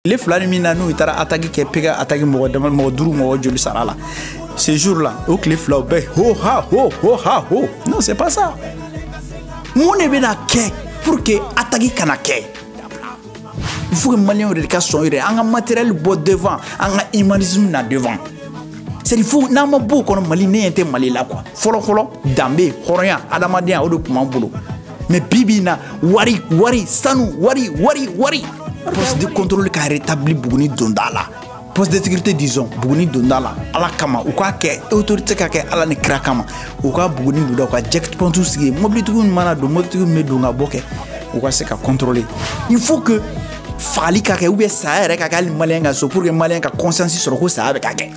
tile fila nin min na n'u taara ataki kɛ péage ataki mɔgɔ dama mɔgɔ duuru mɔgɔ joli sara la ce jour là o tile fila o bɛɛ ho ha ho ho ha ho non c'est pas ça mun de bɛna kɛ pour que ataki kana kɛ il faut que maliyɛnw yɛrɛ de ka sɔn yɛrɛ an ka matériel bɔ devant an ka humanisme na devant c'est fo n'an ma b'o kɔnɔ mali ne ɲɛ tɛ mali la quoi fɔlɔ fɔlɔ danbe hɔrɔnya adamadenya o de tun b'an bolo mais bi bi in na wari wari sanu wari wari wari poste de contrôle ka rétabli buguni donda la poste de sécurité disons buguni donda la ala kama u k'a kɛ autorité k'a kɛ ala ni kira kama u ka buguni donda u ka checkpoint sigi mobilitigiw mana don mobilitigiw bɛ don ka bɔ kɛ u ka se ka contrôler il faut que fagali ka kɛ ou bien saya yɛrɛ ka kɛ hali maliyɛn ka so pour que maliyɛn ka conscience sɔrɔ ko saya bɛ ka kɛ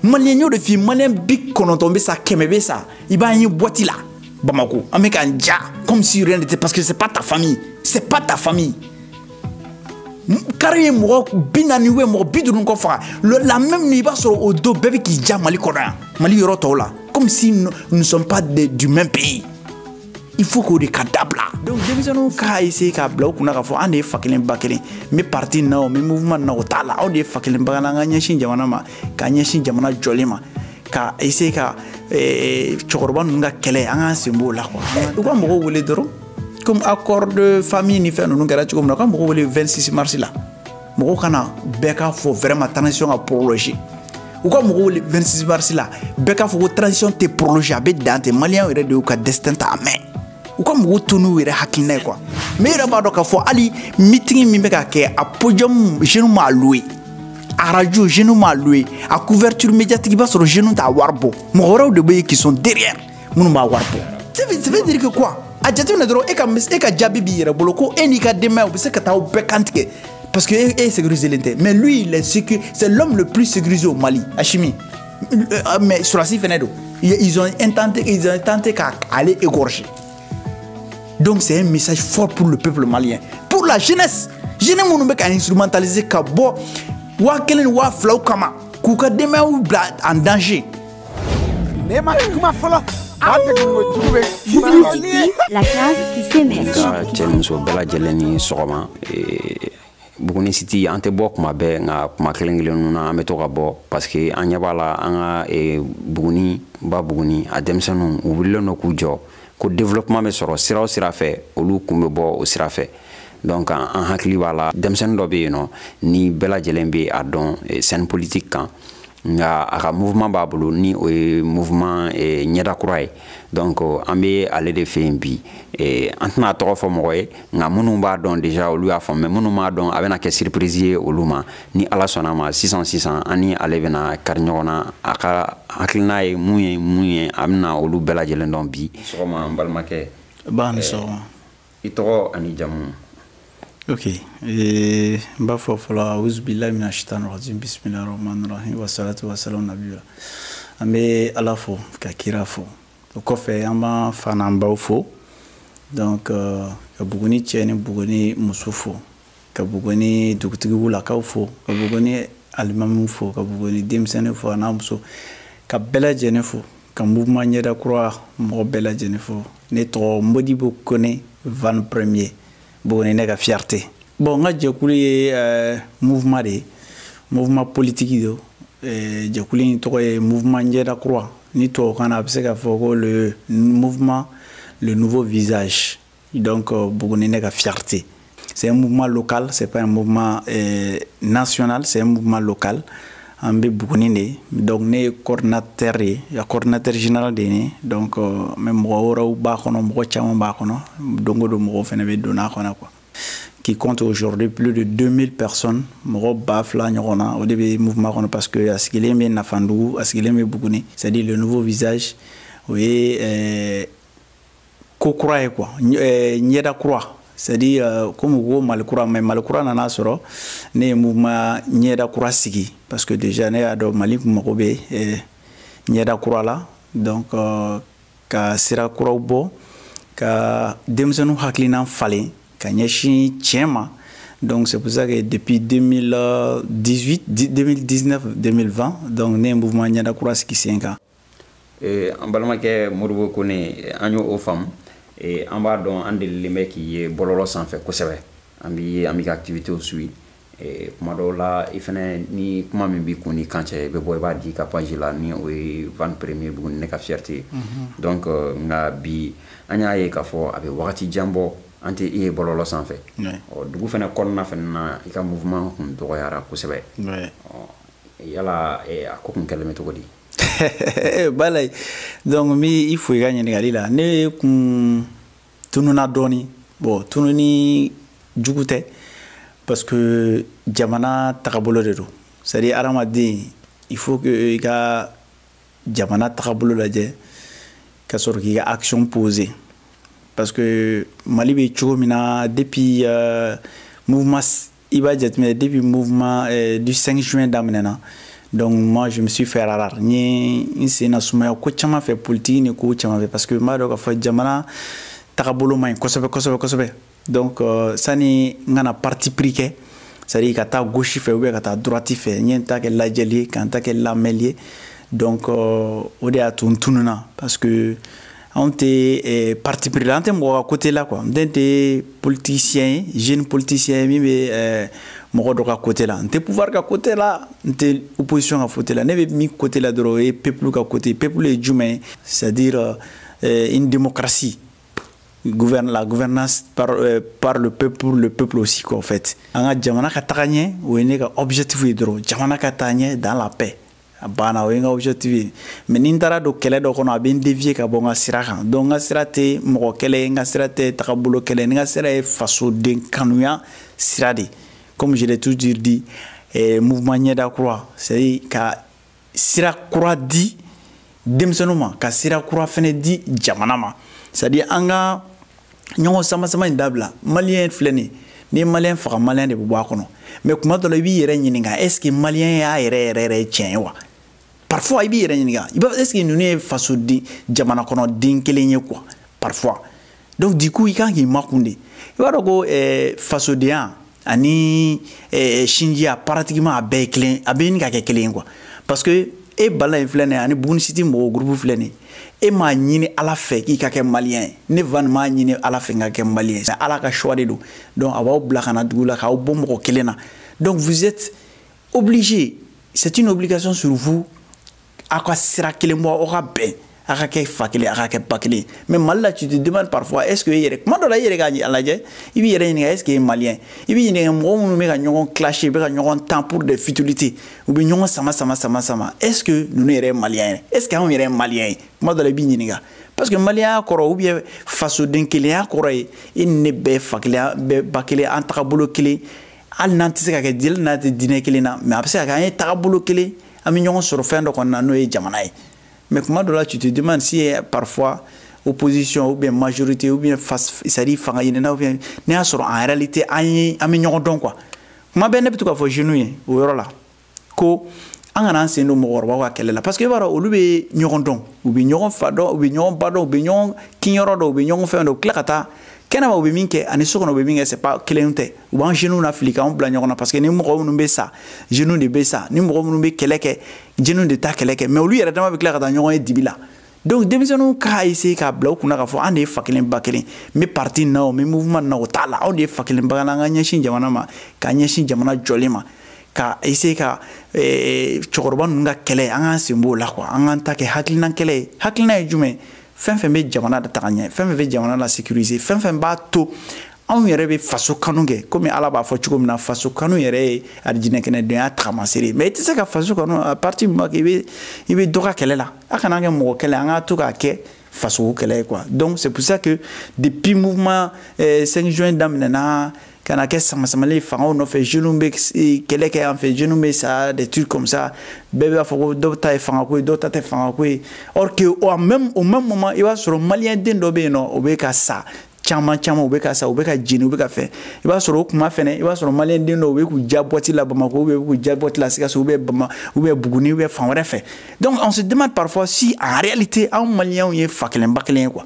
maliyɛn y'o de f'i maliyɛn bi kɔnɔntɔn bɛ sa kɛmɛ bɛ sa i b'a ye boîte la Bamako an bɛ k'an ja comme si rien n'était parce que c'est pas ta famille c'est pas ta famille kari ye mɔgɔ bi naani ou mɔgɔ bi duuru kɔ faga la même i b'a sɔrɔ o don bɛɛ bɛ k'i ja mali kɔnɔ yan mali yɔrɔ tɔw la comme si nous ne sommes pas de, du même pays il faut k'o de ka dabila donc denmisɛnninw k'a essayer k'a bila u kunna k'a fɔ an de ye fa kelen ba kelen n bɛ parti na o n bɛ mouvement na o t'a la aw de ye fa kelen ba kelen an ka ɲɛsin jamana ma ka ɲɛsin jamana jɔlen ma ka essayer ka eh, cɛkɔrɔba ninnu ka kɛlɛ an k'an sen b'o la quoi u ka mɔgɔw wele dɔrɔn comme code de famille ni fɛn ninnu kɛra cogo min na u ka mɔgɔw wele 26 mars la mɔgɔw ka na bɛɛ k'a fɔ vraiment transition ka prolonger u ka mɔgɔw wele 26 mars la bɛɛ k'a fɔ ko transition tɛ prolonger a bɛ dan tɛ maliyɛnw yɛrɛ de y'u ka destin ta en main u ka mɔgɔw to n'u yɛrɛ hakilina ye quoi mais i yɛrɛ b'a dɔn k'a fɔ hali meeting min bɛ ka kɛ a podium jeune m'a loué a radio jeune m'a loué a couverture médiatique i b'a sɔrɔ jeune t'a wari bɔ mɔgɔ wɛrɛw de bɛ yen qui sont derrière minnu b'a wari bɔ ça veut dire que quoi a jateminɛ dɔrɔn e ka e ka jaabi b'i yɛrɛ bolo ko e n'i ka denbaya u bɛ se ka taa aw bɛɛ kan tigɛ parce que e sécurisélen tɛ mais lui il est sécu c'est l'homme le plus sécurisé au Mali Assimi euh, mais sɔrɔdasi fɛnɛ don ils ont intenté ils ont tenté ka ale égorger donc c'est un message fort pour le peuple malien pour la jeunesse jeune minnu bɛ ka instrumentaliser ka bɔ waa kelen ni waa filaw kama k'u ka denbayaw bila en danger. ne ma kuma fɔlɔ. La classe qui s'émerge. Ka cɛ muso bɛɛ lajɛlen ni sɔgɔma. buguni siti an tɛ bɔ kuma bɛɛ nka kuma kelen kelen ninnu na an bɛ to ka bɔ parce que an ɲɛ b'a la an ka e, buguni ba buguni a denmisɛnninw u wulilen don k'u jɔ ko développement bɛ sɔrɔ sira o sira fɛ olu kun bɛ bɔ o sira fɛ donc an hakili b'a la denmisɛnnin dɔ bɛ yen nɔ ni bɛɛ lajɛlen bɛ a dɔn e, scène politique kan nka a ka mouvement b'a bolo ni o ye mouvement eh, ɲɛda kura ye donc euh, an bɛ ale de fɛ yen bi eh, an tɛna a tɔgɔ fɔ mɔgɔ ye nka minnu b'a dɔn déjà olu y'a faamu mais minnu m'a dɔn a bɛna kɛ surprise ye olu ma ni ala sɔnna a ma sisan sisan an ni ale bɛna kari ɲɔgɔn na a ka hakilina ye mun ye mun ye a bɛna olu bɛɛ lajɛlen dɔn bi sɔgɔma n balimakɛ ba ni eh, sɔgɔma i tɔgɔ ani jamu ok eh, n b'a fɔ fɔlɔ auzubilahi mina shaitan rajim bisimilahi rahmani rahim wasalatu wasalamu nabiyula an bɛ ala fo ka kira fo o kɔfɛ an b'an faw n'an baw fo donc euh, ka buguni cɛ ni buguni muso fo ka buguni dugutigiw lakaw fo ka buguni alimamiw fo ka buguni denmisɛnnin fo an'a muso ka bɛɛ lajɛlen fo ka mouvement ɲɛda kura mɔgɔ bɛɛ lajɛlen fo ne tɔgɔ modibo kone van premier buguni ne ka fierté bon n ka jɛkulu ye euh, mouvement de ye mouvement politiki don euh, jɛkulu in tɔgɔ ye mouvement ɲɛda kura ni tubabukan na a bɛ se ka fɔ ko le mouvement le nouveau visage Donc, euh, Bougouni ne ka fierté. C'est un mouvement local, c'est pas un mouvement euh, national, c'est un mouvement local. An bɛ Bougouni donc ne coordinateur ye y'a coordinateur général de ye donc euh, mais mɔgɔ wɛrɛw b'a kɔnɔ mɔgɔ caman b'a kɔnɔ don o don mɔgɔw fana bɛ don a kɔnɔ quoi qui compte aujourd'hui plus de 2000 personnes mɔgɔ ba fila ɲɔgɔn na o de bɛ mouvement kɔnɔ parce que a sigilen bɛ Nafandugu a sigilen bɛ Bougouni c'est à dire le nouveau visage o ye ko kura ye quoi euh, ɲɛda kura c'est à dire euh, comme u ko mali kura mais mali kura nana sɔrɔ ne ye mouvement ɲɛda kura sigi parce que déjà ne y'a dɔn mali kun mago bɛ euh, ɲɛda kura la donc euh, ka sira kuraw bɔ ka denmisɛnninw hakilina falen ka ɲɛsin tiɲɛ ma donc c'est pour ça que depuis 2018 2019 2020 donc ne ye mouvement ɲɛda kura sigi sen kan Eh, an balimakɛ modibo kone eh, an y'o faamu eh, an b'a dɔn an delilen bɛ k'i ye bɔlɔlɔ sanfɛ kosɛbɛ an b'i ye an b'i ka activitéw suivre kuma dɔw la i fɛnɛ ni kuma min b'i kun ni kan cɛ i bɛ bɔ i b'a di ka page la ni o ye van premier buguni ne ka fierté ye mhm. donc euh, nka bi an y'a ye k'a fɔ a bɛ wagati jan bɔ an tɛ i ye bɔlɔlɔ sanfɛ ɔ dugu fɛnɛ kɔnɔna fɛnɛ na i ka mouvement kun dɔgɔyara kosɛbɛ yala eh, a ko kun kɛlen bɛ cogo di eh, bala donc n bɛ i fo i ka ɲininkali la ne kun tununa dɔɔni bon tununi jugu tɛ parce que jamana tagabolo de don c'est à dire adamaden il faut que i ka jamana tagabolo lajɛ ka sɔrɔ k'i ka action poser parce que mali bɛ cogo min na depuis uh, mouvement i b'a jateminɛ depuis mouvement euh, du 5 juin daminɛna donc moi je me suis fait rare n ye n senna sumaya ko caman fɛ politiki ni ko caman fɛ parce que n b'a dɔn k'a fɔ jamana tagabolo man ɲi kosɛbɛ kosɛbɛ kosɛbɛ donc euh, sani n ka na parti pris kɛ c'est à dire ka taa gauche fɛ ou bien ka taa droite fɛ n ye n ta kɛ lajɛli ye ka n ta kɛ lamɛli ye donc euh, o de y'a to n tununa parce que anw tɛ eh, parti pris la an tɛ mɔgɔ ka côté la quoi n tɛ n tɛ politicien ye jeune politicien ye min bɛ eh, mɔgɔ dɔ ka côté la n tɛ pouvoir ka côté la n tɛ opposition ka côté la ne bɛ min côté la dɔrɔn o ye peuple ka côté peuple ye jumɛn ye c'est à dire eh, une démocratie gouverne la gouvernance par, euh, par le peuple pour le peuple aussi quoi en fait an ka jamana ka taga ɲɛ o ye ne ka objectif ye dɔrɔn jamana ka taa ɲɛ dans la paix a banna o ye n ka objectif ye mais ni n taara don kɛlɛ dɔ kɔnɔ a bɛ n dévier ka bɔ n ka sira kan donc n ka sira tɛ mɔgɔ kɛlɛ ye n ka sira tɛ tagabolo kɛlɛ ye n ka sira ye fasoden kanuya sira de comme je l'ai toujours dit eh, mouvement ɲɛda kura c'est à dire ka sira kura di denmisɛnninw ma ka sira kura fɛnɛ di jamana ma c'est à dire an ka ɲɔgɔn samasama in dabila maliyɛn filɛ nin ni maliyɛn faga maliyɛn de bɛ bɔ a kɔnɔ mais kuma dɔ la i b'i yɛrɛ ɲininka est ce que maliyɛnya yɛrɛ yɛrɛ yɛrɛ tiɲɛ ye wa parfois i b'i yɛrɛ ɲininka i b'a est ce que ninnu ye fasoden jamana kɔnɔ den kelen ye quoi parfois donc du coup i kan k'i makun de i b'a dɔn ko eh, fasodenya ani eh, sinjiya pratiquement a bɛɛ ye kelen a bɛ ɲini ka kɛ kelen ye quoi parce que e bala in filɛ nin ye ani bugunisiti mɔgɔw gurupu filɛ nin ye e m'a ɲini ala fɛ k'i ka kɛ maliyɛn ye ne van m'a ɲini ala fɛ n ka kɛ maliyɛn ye ala ka choix de don donc a b'aw bila ka na dugu la k'aw bɔ mɔgɔ kelen na donc vous êtes obligé c'est une obligation sur vous aw ka sira kelen bɔ aw ka bɛn a ka kɛ fa kelen a ka kɛ ba kelen mais mali la tu te demandes parfois est ce que i yɛrɛ kuma dɔ la i yɛrɛ k'a lajɛ i b'i yɛrɛ ɲininka est ce que i ye maliyɛn i b'i ɲininka mɔgɔ minnu bɛ ka ɲɔgɔn clash bɛ ka ɲɔgɔn tan pour des futilités u bɛ ɲɔgɔn sama sama sama sama est ce que ninnu yɛrɛ ye maliyɛn ye est ce que anw yɛrɛ ye maliyɛn ye kuma dɔ la i b'i ɲininka parce que maliyɛnya kɔrɔ ou bien fasoden kelenya kɔrɔ ye i ni ne bɛɛ fa kelen bɛɛ ba kelen an tagabolo kelen hali n'an tɛ se ka kɛ jeli n'a tɛ diinɛ kelen na mais a bɛ se ka kɛ an ye tagabolo kelen an bɛ ɲɔgɔn sɔrɔ fɛn dɔ kɔnɔ na n'o ye jamana ye mais kuma dɔ la tu te demandes s'il y a parfois opposition ou bien majorité ou bien face c'est à dire fanga ɲinina ou bien ne y'a sɔrɔ en réalité an ye an bɛ ɲɔgɔn dɔn quoi tuma bɛɛ ne bɛ to k'a fɔ jeunes ye o yɔrɔ la ko an kana an sen don mɔgɔkɔrɔbaw ka kɛlɛ la parce que i b'a dɔn olu bɛ ɲɔgɔn dɔn u bɛ ɲɔgɔn fa dɔn u bɛ ɲɔgɔn ba dɔn u bɛ ɲɔgɔn kinyɔrɔ dɔn u bɛ ɲɔgɔn fɛn dɔn u tila ka taa kɛnɛma u bɛ min kɛ ani so kɔnɔ u bɛ min kɛ c'est pas kelen tɛ u b'an jeunes nafili k'anw bila ɲɔgɔn na parce que ni mɔgɔ minnu bɛ sa jeunes de bɛ sa ni mɔgɔ minnu bɛ kɛlɛ kɛ jeunes de ta kɛlɛ kɛ mais olu yɛrɛ dama bɛ tila ka taa ɲɔgɔn ye dibi la donc denmisɛnninw k'a essayer k'a bila u kunna k'a fɔ an de ye fa kelen ba kelen n bɛ parti na o n bɛ mouvement na o t'a la anw de ye fa kelen ba kelen an ka ɲɛsin jamana ma ka ɲɛsin jamana jɔli ma ka essayer ka eh, cɛkɔrɔba ninnu ka kɛlɛ an k'an sen b'o la quoi an k'an ta kɛ hakilinan kɛlɛ ye hakilinan ye jumɛn ye fɛn fɛn bɛ jamana lataga ɲɛ fɛn fɛn bɛ jamana lasécuriser fɛn fɛn b'a to anw yɛrɛ bɛ faso kanu kɛ komi ala b'a fɔ cogo min na faso kanu yɛrɛ ye arijinɛkɛnɛdenya tagamasere ye mais i tɛ se ka faso kanu à partir min b'a kɛ i bɛ dɔ ka kɛlɛ la a kana kɛ mɔgɔ kɛlɛ an k'a to k'a kɛ fasoko kɛlɛ ye quoi donc c'est pour ça que depuis mouvement euh, 5 juin daminɛna ka na kɛ samasamali ye fangaw nɔfɛ jeunes bɛ eh, kɛlɛ kɛ an fɛ jeunes bɛ sa des trucs comme ça bɛɛ b'a fɔ ko dɔw ta ye fangako ye dɔw ta tɛ fangako ye or que au même au même moment i b'a sɔrɔ maliyɛn den dɔ bɛ yen nord o bɛ ka sa caman caman u bɛ ka sa u bɛ ka jeni u bɛ ka fɛn i b'a sɔrɔ o kuma fɛnɛ i b'a sɔrɔ maliyɛn den dɔw u bɛ k'u diya boîte la bamakɔ u bɛ k'u diya boîte la sikaso u bɛ bama u bɛ buguni u bɛ fan wɛrɛ fɛ donc on se demande parfois si en réalité anw maliyɛnw ye fa kelen ba kelen ye quoi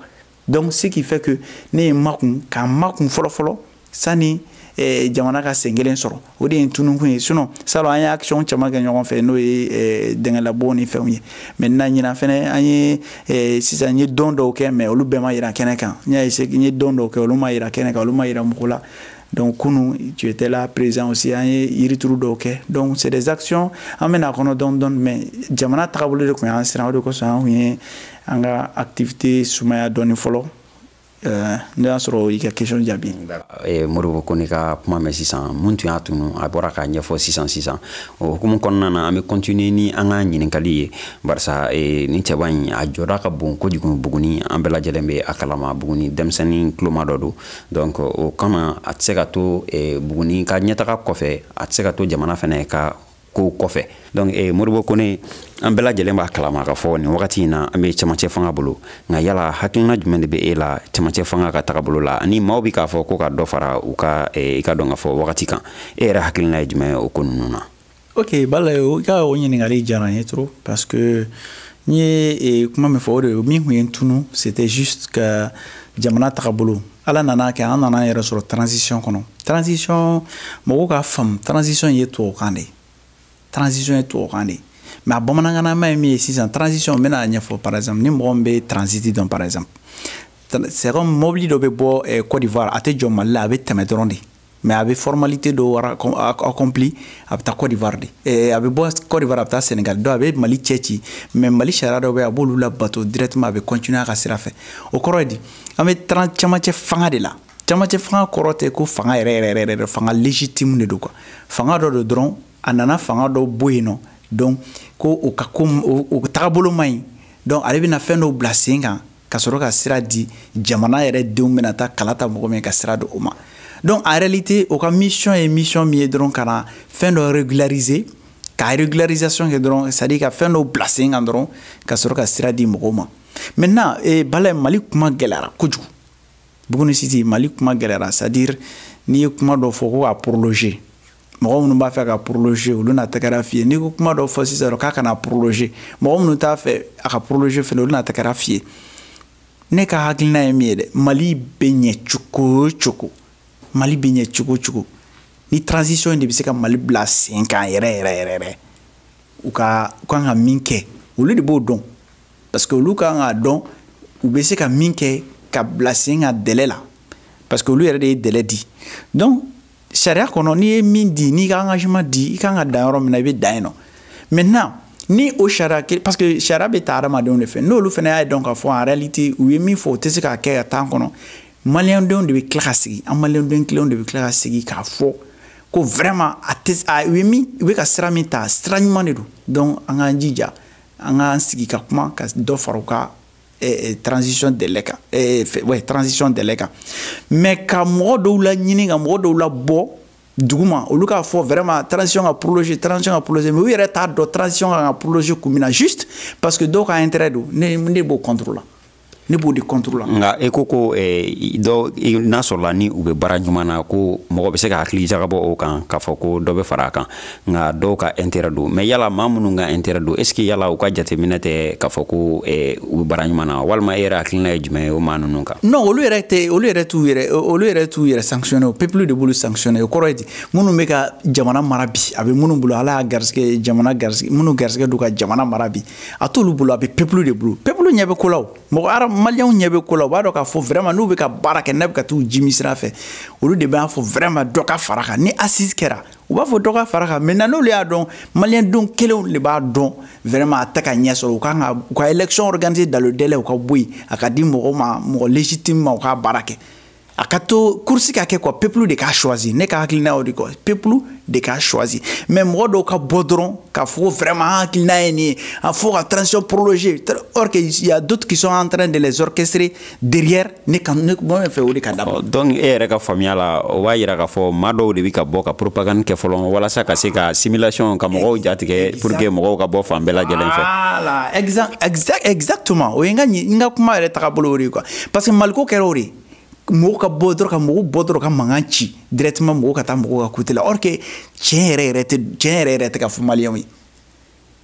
donc ce qui fait que ne ye n makun ka n makun fɔlɔ fɔlɔ sani eh, jamana ka sen kelen sɔrɔ o de ye tunukun ye sinon salon an ye action caman kɛ ɲɔgɔn fɛ n'o ye eh, dingɛlabɔ ni fɛnw ye maintenant ɲinan fɛnɛ an ye eh, sisan n ye don dɔw kɛ mais olu bɛɛ ma yira kɛnɛ kan n y'a essayer n ye don dɔw kɛ olu ma yira kɛnɛ kan olu ma yira mɔgɔ la donc kunu tu étais là présent aussi an ye yirituru dɔw kɛ donc c'est des actions an bɛna kɔnɔ dɔɔni dɔɔni mais jamana tagabolo de tun y'an siran o de kosɔn an tun ye an ka activité sumaya dɔɔni fɔlɔ Eh, ne y'a sɔrɔ i ka question jaabi eh, moribo kone ka kuma mɛn sisan mun tun y'a tunu a bɔra k'a ɲɛfɔ sisan sisan o hukumu kɔnɔna na an bɛ continuer ni an ka ɲininkali ye barisa eh, nin cɛba in a jɔda ka bon kojugu buguni an bɛɛ lajɛlen bɛ a kalama buguni denmisɛnnin tuloma dɔ don donc o kama a tɛ se ka to buguni ka ɲɛtaga kɔfɛ a tɛ se ka to jamana fana ka kow kɔfɛ donc eh, moribo kone an bɛɛ lajɛlen b'a kalama k'a fɔ nin wagati in na an bɛ cɛmancɛ fanga bolo nka yala hakilina jumɛn de bɛ e la cɛmancɛ fanga ka tagabolo la ani maaw bɛ k'a fɔ ko ka dɔ fara u ka eh, i k'a dɔn k'a fɔ wagati kan e yɛrɛ hakilina ye jumɛn ye o ko ninnu na ok bala i ka o ɲininkali diyara n ye trop parce que n ye eh, kuma min fɔ o de min tun ye n tunu c'était juste ka jamana tagabolo ala nan'a kɛ an nana yɛrɛ sɔrɔ transition kɔnɔ transition mɔgɔw k'a faamu transition ye tubabukan de ye transition ye tubabukan de ye mais a bamanankanama ye min ye sisan transition n bɛn'a ɲɛfɔ par exemple ni mɔgɔ min bɛ transit dɔn par exemple c'est comme mɔbili dɔ bɛ bɔ eh, côte d'ivoire a tɛ jɔ mali la a bɛ tɛmɛ dɔrɔn de mais a bɛ formalité dɔw accompli a bɛ taa Côte d'Ivoire de eh, a bɛ bɔ Côte d'Ivoire a bɛ taa Sénégal donc a bɛ Mali cɛ ci mais Mali sariya dɔw bɛ yen a b'olu labato directement a bɛ continuer a ka sira fɛ o kɔrɔ ye di an bɛ taran camancɛ fanga de la camancɛ fanga kɔrɔ tɛ ko fanga yɛrɛ yɛrɛ yɛrɛ yɛrɛ fanga légitime de don quoi fanga dɔ don dɔrɔn a nana fanga dɔ bɔ yen nɔ donc ko o ka ko o tagabolo man ɲi donc ale bɛna fɛn dɔw bila sen kan ka sɔrɔ ka sira di jamana yɛrɛ denw bɛna taa kala ta mɔgɔ min ka sira di o ma donc en réalité o ka mission ye mission min ye dɔrɔn ka na fɛn dɔ régulariser ka régularisation kɛ dɔrɔn c'est à dire ka fɛn dɔw bila sen kan dɔrɔn ka sɔrɔ ka sira di mɔgɔw ma maintenant eh, bala mali kuma gɛlɛyara kojugu buguni siti mali kuma gɛlɛyara c'est à dire n'i ye kuma dɔ fɔ ko ka prolonger mɔgɔ minnu b'a fɛ a ka prolonger olu na tɛgɛrɛ f'i ye n'i ko kuma dɔ fɔ sisan k'a kana prolonger mɔgɔ minnu t'a fɛ a ka prolonger fɛnɛ olu na tɛgɛrɛ f'i ye ne ka hakilina ye min ye dɛ mali bɛ ɲɛ cogo o cogo mali bɛ ɲɛ cogo o cogo ni transition de bɛ se ka mali bila sen kan yɛrɛ yɛrɛ yɛrɛ yɛrɛ u ka u kan ka min kɛ olu de b'o dɔn parce que olu kan k'a dɔn u bɛ se ka min kɛ ka bila sen kan délai la parce que olu yɛrɛ de ye délai di donc sariya kɔnɔ n'i ye min di n'i ka engagement di i kan ka dan yɔrɔ min na i bɛ dan yen nɔ maintenant ni o sariya kelen parce que sariya bɛ ta hadamadenw de fɛ n'olu fana y'a dɔn k'a fɔ en réalité u ye min fɔ u tɛ se k'a kɛ ka temps kɔnɔ maliyɛndenw de bɛ tila ka sigi an maliyɛnden kelenw de bɛ tila ka sigi k'a fɔ ko vraiment a tɛ a u ye min u bɛ ka sira min ta sira ɲuman de don donc an k'an jija an k'an sigi ka kuma ka dɔ fara u ka eh, eh, transition délai kan eh, ouais, transition délai kan mais ka mɔgɔ dɔw laɲini ka mɔgɔ dɔw labɔ duguma olu k'a fɔ vraiment transition ka prolonger transition ka prolonger mais u yɛrɛ t'a dɔn transition kan ka prolonger kun min na juste parce que dɔw ka intérêt don ne ne b'o contre la ne b'o de contre la nka e ko ko eh, dɔ n'a sɔrɔla ni u bɛ baara ɲuman na ko mɔgɔ bɛ se ka hakili jagabɔ o kan k'a fɔ ko dɔ bɛ fara a kan nka dɔw ka intérêt don mais yala maa minnu ka intérêt don est ce que yala u ka jateminɛ tɛ k'a fɔ ko eh, u bɛ baara ɲuman na walima e yɛrɛ hakilina ye jumɛn ye o maa ninnu kan non olu yɛrɛ tɛ olu yɛrɛ t'u yɛrɛ olu yɛrɛ t'u yɛrɛ sanctionner o peuple de b'olu sanctionner o kɔrɔ ye di minnu bɛ ka jamana mara bi a bɛ minnu bolo ala y'a garisɛgɛ jamana garisɛgɛ minnu garisɛgɛ don ka jamana mara bi a t'olu bolo a bɛ peuple de bolo peuple ɲɛ bɛ ko la o mɔgɔ ara maliyɛnw ɲɛ bɛ ko la u b'a dɔn k'a fɔ vraiment n'u bɛ ka baara kɛ n'a bɛ ka t'u jimi sira fɛ olu de b'a fɔ vraiment dɔ ka fara kan ni assise kɛra u b'a fɔ dɔ ka fara kan maintenant n'olu y'a dɔn maliyɛndenw kelenw de b'a dɔn vraiment a tɛ ka ɲɛ sɔrɔ u kan ka u ka élection organiser dans le délai u ka bɔ yen a ka di mɔgɔ ma mɔgɔ légitime ma u k'a baara kɛ a ka to kursi ka kɛ quoi peuple de k'a choisi ne ka hakilina y'o de quoi peuple de k'a choisi mais mɔgɔ dɔw ka bɔ dɔrɔn k'a fɔ ko vraiment an hakilina ye nin ye a fɔ ka transition prolonger or que il y a d'autres qui sont en train de les orchestrer derrière ne ka ne mɔmɛ fɛ o de ka dabɔ donc e yɛrɛ ka faamuya la o b'a yira k'a fɔ maa dɔw de bɛ ka bɔ ka propagande kɛ fɔlɔ walasa ka se ka simulation ka mɔgɔw jatigɛ pour que mɔgɔw ka bɔ fan bɛɛ lajɛlen fɛ voilà exact exact exactement o ye n ka n ka kuma yɛrɛ taga bolo o de ye quoi parce que maliko kɛra o de ye mɔgɔw ka bɔ dɔrɔn ka mɔgɔw bɔ dɔrɔn ka mankan ci directement mɔgɔw ka taa mɔgɔw ka côté la or que tiɲɛ yɛrɛ yɛrɛ tɛ tiɲɛ yɛrɛ yɛrɛ tɛ ka fɔ maliyɛnw ye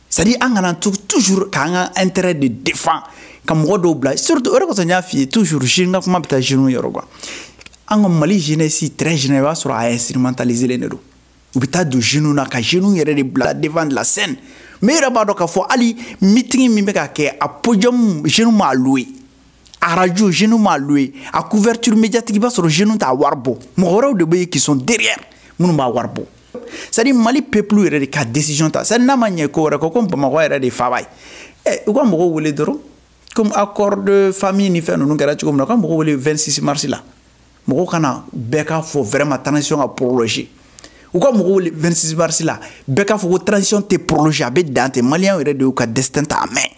c'est à dire an kana to toujours k'an ka intérêt de défend ka mɔgɔ dɔw bila surtout o de kosɔn n y'a f'i ye toujours ne ka kuma bɛ taa jeunes yɔrɔ quoi an ka mali jeunesse très général i b'a sɔrɔ a instrumentalisélen de don u bɛ taa don jeunes na ka jeunes yɛrɛ de bila devant de la scène mais i yɛrɛ b'a dɔn k'a fɔ hali meeting min bɛ ka kɛ a podium jeunes m'a loué arajo jeunes m'a loué a couverture médiatique i b'a sɔrɔ jeunes t'a wari bɔ mɔgɔ wɛrɛw de bɛ yen qui sont derrière minnu b'a wari bɔ c'est à dire mali peuple yɛrɛ de ka décision ta c'est à dire n'a ma ɲɛ ko wɛrɛ kɔ komi bamakɔ yɛrɛ de faaba ye ɛ u ka mɔgɔw wele dɔrɔn komi a code de famille ni fɛn ninnu kɛra cogo min na u ka mɔgɔw wele 26 mars la mɔgɔw ka na bɛɛ k'a fɔ vraiment transition ka prolonger u ka mɔgɔw wele 26 mars la bɛɛ k'a fɔ ko transition tɛ prolonger a bɛ dan ten maliyɛnw yɛrɛ de y'u ka destin ta en main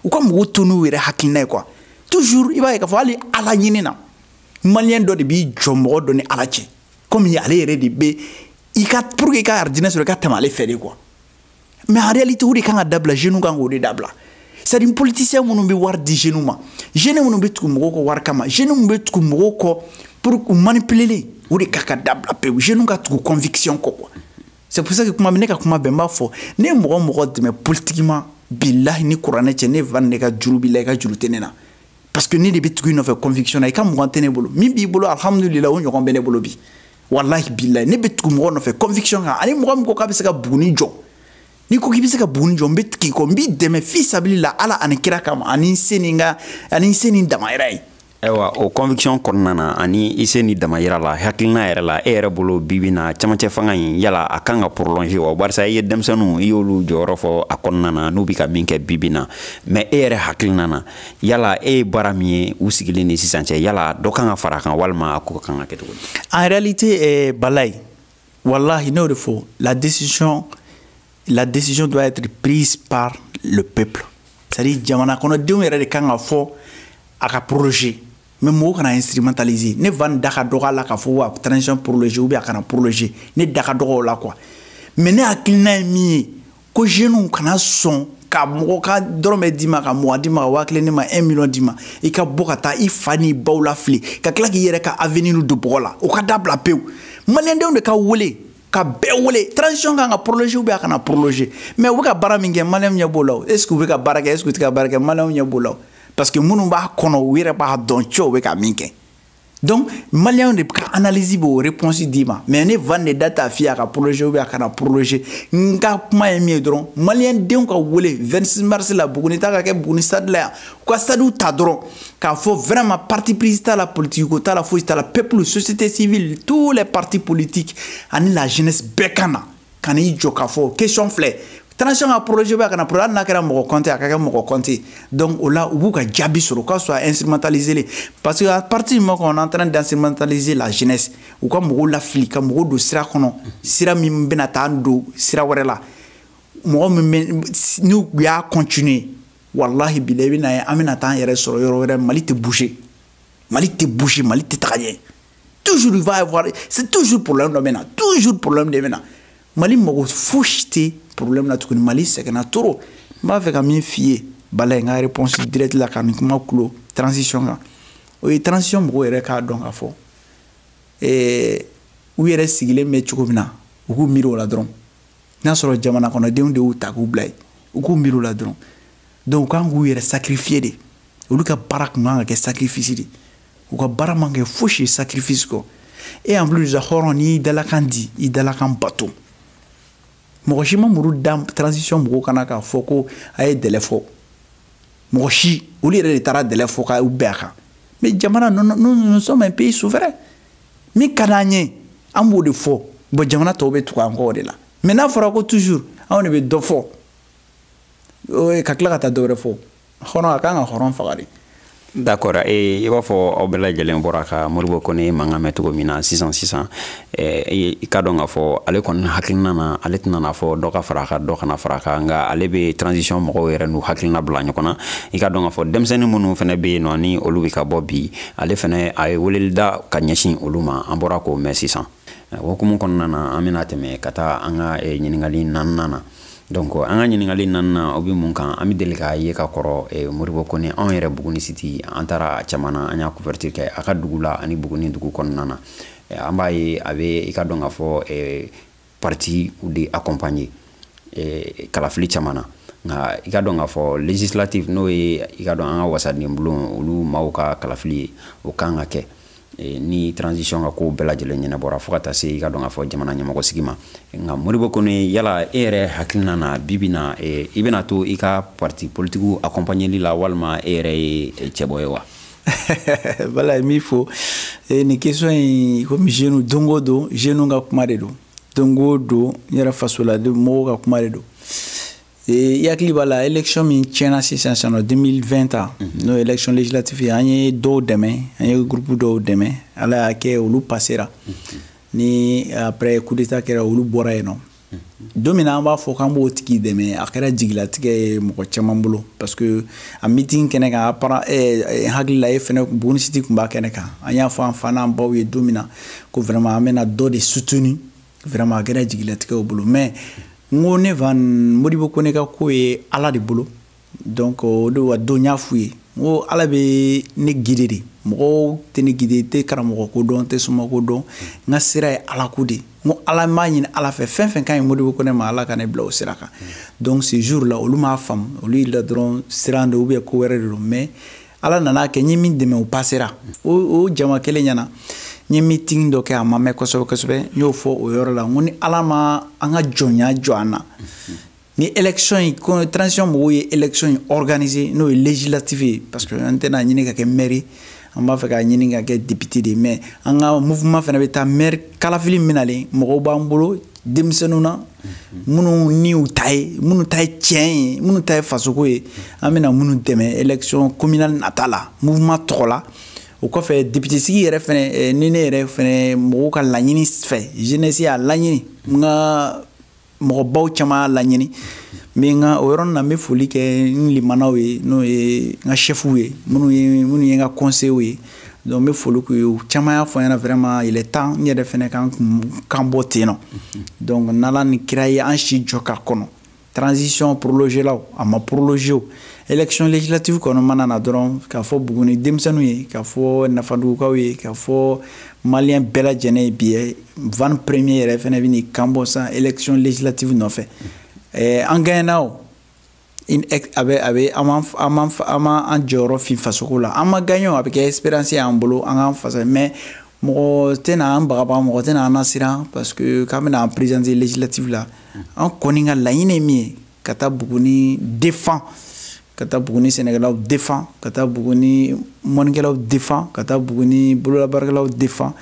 u ka mɔgɔw to n'u yɛrɛ hakilina ye quoi toujours i b'a ye k'a fɔ hali ala ɲini na maliyɛn dɔ de b'i jɔ mɔgɔ dɔ ni ala cɛ komi ale yɛrɛ de bɛ i ka pour que i ka arijinɛ sɔrɔ i ka tɛmɛ ale fɛ de quoi mais en réalité o de kan ka dabila jeunes kan k'o de dabila c'est à dire politicien minnu bɛ wari di jeunes ma jeunes minnu bɛ tugu mɔgɔw kɔ wari kama jeunes minnu bɛ tugu mɔgɔw kɔ pour u manipuleli o de kan ka dabila pewu jeunes ka tugu conviction kɔ quoi c'est pour ça que kuma ne ka kuma bɛɛ n b'a fɔ ne ye mɔgɔ o mɔgɔ dɛmɛ politiquement bilahi ni kuranɛ cɛ ne van ne ka juru b'i la i ka juru tɛ ne na parce que ne de bɛ tugu i nɔfɛ conviction na i ka mugan tɛ ne bolo min b'i bolo alhamdulila o ɲɔgɔn bɛ ne bolo bi walahi bilayi ne bɛ tugu mɔgɔ nɔfɛ conviction kan ani mɔgɔ min ko k'a bɛ se ka buguni jɔ n'i ko k'i bɛ se ka buguni jɔ n bɛ tugu i kɔ n b'i dɛmɛ fi sabili la ala ani kira kama ani n se ni n ka ani n se ni n damayira ye ayiwa o conviction kɔnɔna na ani i se ni damayira la hakilina yɛrɛ la e yɛrɛ bolo bibi na camancɛ fanga in yala a kan ka prolonger wa barisa i ye denmisɛnninw i y'olu jɔyɔrɔ fɔ a kɔnɔna na n'u bɛ ka min kɛ bibi na mais e yɛrɛ hakilina na yala e ye baara min ye u sigilen ni sisan cɛ yala dɔ kan ka fara a kan walima a ko kan ka kɛ cogo di en réalité eh, bilayi wallahi n'o de fɔ la décision la décision doit être prise par le peuple c'est à dire jamana kɔnɔdenw yɛrɛ de kan k'a fɔ a ka prolonger mais mɔgɔw kana instrumentaliser ne va nin da ka dɔgɔ a la k'a fɔ a transition prolonger ou bien a kana prolonger ne da ka dɔgɔ o la quoi mais ne hakilina ye min ye ko jeunes kana sɔn ka mɔgɔ ka dɔrɔmɛ d'i ma ka mugan d'i ma ka waa kelen ne ma un million d'i ma i ka bɔ ka taa i fa n'i baw lafili ka tila k'i yɛrɛ ka avenir don bɔgɔ la o ka dabila pewu maliyɛndenw de ka wele ka bɛɛ wele transition kan ka prolonger ou bien a kana prolonger mais u bɛ ka baara min kɛ maliyɛnw ɲɛ b'o la o est ce que u bɛ ka baara kɛ est ce que u tɛ ka baara kɛ maliyɛnw ɲɛ b'o la o parce que minnu b'a kɔnɔ u yɛrɛ b'a dɔn cɛ u bɛ ka min kɛ donc maliyɛnw de ka analyse b'o réponse d'i ma mais ne van de da t'a f'i ye a ka prolonger ou bien a kana prolonger n ka kuma ye min ye dɔrɔn maliyɛn denw ka wele 26 mars la buguni ta ka kɛ buguni stade la yan u ka stadium ta dɔrɔn k'a fɔ vraiment parti pris t'a la politiki ko t'a la fosi t'a la peuple société civile tous les partis politiques ani la jeunesse bɛɛ ka na ka n'i jɔ k'a fɔ question filɛ transition ka prolonger ou bien a kana prolonger hali n'a kɛra mɔgɔ compte a ka kɛ mɔgɔ compte donc o la u b'u ka jaabi sɔrɔ u ka sɔrɔ a instrumentaliser len parce que à partir du moment qu'on est en train d'instrumentaliser la jeunesse u ka mɔgɔw lafili ka mɔgɔw don sira kɔnɔ sira min bɛna taa don sira wɛrɛ la mɔgɔ min bɛ n'u y'a continuer walahi bilahi bɛna ye an bɛna taa an yɛrɛ sɔrɔ yɔrɔ wɛrɛ mali tɛ bouger mali tɛ bouger mali tɛ taga ɲɛ toujours il va y avoir c'est toujours problème dɔ bɛ na toujours problème de bɛ na mali mago fosi tɛ problème na tuguni mali sɛgɛnna trop n b'a fɛ ka min f'i ye bala in ka réponse direct la ka nin kuma kulo transition kan o ye transition mɔgɔw yɛrɛ k'a dɔn k'a fɔ eh, u yɛrɛ sigilen bɛ cogo min na u k'u miiri o la dɔrɔn n'a sɔrɔ jamana kɔnɔdenw de y'u ta k'u bila yen u k'u miiri o la dɔrɔn donc u kan k'u yɛrɛ sacrifier de olu ka baara kun kan ka kɛ sacrifice de u ka baara man kɛ fosi ye sacrifice kɔ et en plus la hɔrɔn n'i y'i dalakan di i dalakan bato mɔgɔ si ma muru da transition mɔgɔw kan na k'a fɔ ko a ye délai fɔ mɔgɔ si olu yɛrɛ de taara délai fɔ k'u bɛn a kan mais jamana nous sommes un pays souverain min ka d'an ye an b'o de fɔ bon jamana tɔw bɛ tugu an kɔ o de la mais n'a fɔra ko toujours anw de bɛ dɔ fɔ o ye ka tila ka taa dɔwɛrɛ fɔ hɔrɔn a kan ka hɔrɔn faga de d'accord e i b'a fɔ aw bɛɛ lajɛlen bɔra ka moribo kone mankan mɛn cogo min na sisan sisan i ka dɔn k'a fɔ ale kɔni hakilina na ale tɛna n'a fɔ dɔ ka fara kan dɔ kana fara kan nka ale bɛ transition mɔgɔw yɛrɛ n'u hakilina bila ɲɔgɔn na i ka dɔn k'a fɔ denmisɛnnin minnu fana bɛ yen nɔ ni olu bɛ ka bɔ bi ale fana a ye weleli da ka ɲɛsin olu ma an bɔra k'o mɛn sisan o hukumu kɔnɔna na an bɛna tɛmɛ ka taa an ka ɲininkali naaninan na donc an ka ɲininkali naaninan o bɛ mun kan an bɛ deli k'a ye ka kɔrɔ eh, moribo kone anw yɛrɛ buguni siti an taara a caman na an y'a couverture kɛ a ka dugu la ani buguni dugu kɔnɔna na eh, an b'a ye a bɛ i ka dɔn k'a fɔ eh, partiw de accompagner kalafili caman na nka i ka dɔn k'a fɔ législative n'o ye i ka dɔn an ka wasadenbulon olu maaw ka kalafili ye o kan ka kɛ Eh, ni transition ka ko bɛɛ lajɛlen ɲɛnabɔra fo ka taa se i k'a dɔn k'a fɔ jamana ɲɛmɔgɔ sigi ma nka modibo kɔnɛ yala e yɛrɛ hakilina na bi bi in na eh, i bɛna to i ka parti politikiw accompagneli la walima e yɛrɛ ye eh, cɛbɔ ye wa bala min fo nin question in komi jeune don o don jeune ka kuma de don don o don n yɛrɛ fasoladen mɔgɔw ka kuma de don i hakili b'a la élection min tiɲɛna sisan sisan 2020 ta mhm. n'o élection législative ye an ye dɔw dɛmɛ an ye groupe dɔw dɛmɛ ala y'a kɛ olu passera mhm. ni après coup d'état kɛra olu bɔra yen nɔ mhm. don min na an b'a fɔ k'an b'o tigi dɛmɛ a kɛra jigilatigɛ ye mɔgɔ caman bolo parce que a meeting kɛnɛ kan a para eh, eh, hakili la e fɛnɛ bonisiti tun b'a kɛnɛ kan an y'a fɔ an faw n'an baw ye don min na ko vraiment an bɛna dɔ de soutenir vraiment a kɛra jigilatigɛ u bolo mais n ko ne van modibo kɔnɛ ka ko ye ala de bolo donc o de wa don n y'a f'u ye n ko ala bɛ ne guider de mɔgɔw tɛ ne guider n tɛ karamɔgɔ ko dɔn n tɛ soma ko dɔn n ka sira ye ala ko de n ko ala n b'a ɲini ala fɛ fɛn o fɛn ka ɲi modibo kɔnɛ ma ala ka ne bila o sira kan donc ce jour la olu m'a faamu olu jigi la dɔrɔn siran de ou bien ko wɛrɛ de don mais ala nan'a kɛ n ye min dɛmɛ o passera o jama kelen ɲɛ na n ye meeting dɔ kɛ a ma mɛn kosɛbɛ kosɛbɛ n y'o fɔ o yɔrɔ la n ko ni ala ma an ka jɔnya jɔ an na ni élection in ko transition mɔgɔw ye élection in organiser n'o ye législative ye parce que an tɛn'a ɲini ka kɛ maire an b'a fɛ k'a ɲini ka kɛ député de ye mais an ka mouvement fana bɛ taa maire kalafili min nalen mɔgɔw b'an bolo denmisɛnninw na minnu ni u ta ye minnu ta ye tiɲɛ ye minnu ta ye fasoko ye an bɛna minnu dɛmɛ élection communale nata la mouvement tɔgɔ la o kɔfɛ député sigi yɛrɛ fɛnɛ eh, ni ne yɛrɛ fɛnɛ mɔgɔw ka laɲini fɛ jeunesse y'a laɲini n ka mɔgɔbaw caman y'a laɲini n bɛ n ka o yɔrɔnin na n bɛ foli kɛ n limanaw ye n'o ye n ka chɛfuw ye minnu ye minnu ye n ka conseilw ye donc n bɛ foli k'u ye u caman y'a fɔ n ɲɛ na vraiment il est temps n yɛrɛ fɛnɛ kan ka n kan bɔ ten nɔ donc n'ala ni kira ye an si jɔ ka kɔnɔ transition prolongé la o a ma prolongé o élection législative kɔni mana na dɔrɔn k'a fɔ buguni denmisɛnninw ye k'a fɔ nafadugukaw ye k'a fɔ maliyɛn bɛɛ lajɛlen ye bi ye van premier yɛrɛ fɛnɛ bɛn'i kan bɔ sisan élection législative nɔfɛ an gagnera o in ex a bɛ a bɛ an ma an ma an ma an jɔyɔrɔ fin fasoko la an ma gagner o a bɛ kɛ expérience y'an bolo an k'an fasa mais mɔgɔ tɛna an bagaba mɔgɔ tɛna an nasiran parce que k'an bɛna an présenter législative la an kɔni ka laɲini ye min ye ka taa buguni défendre ka taa buguni sɛnɛkɛlaw défendre ka taa buguni mɔnikɛlaw défendre ka taa buguni bololabaarakɛlaw défendre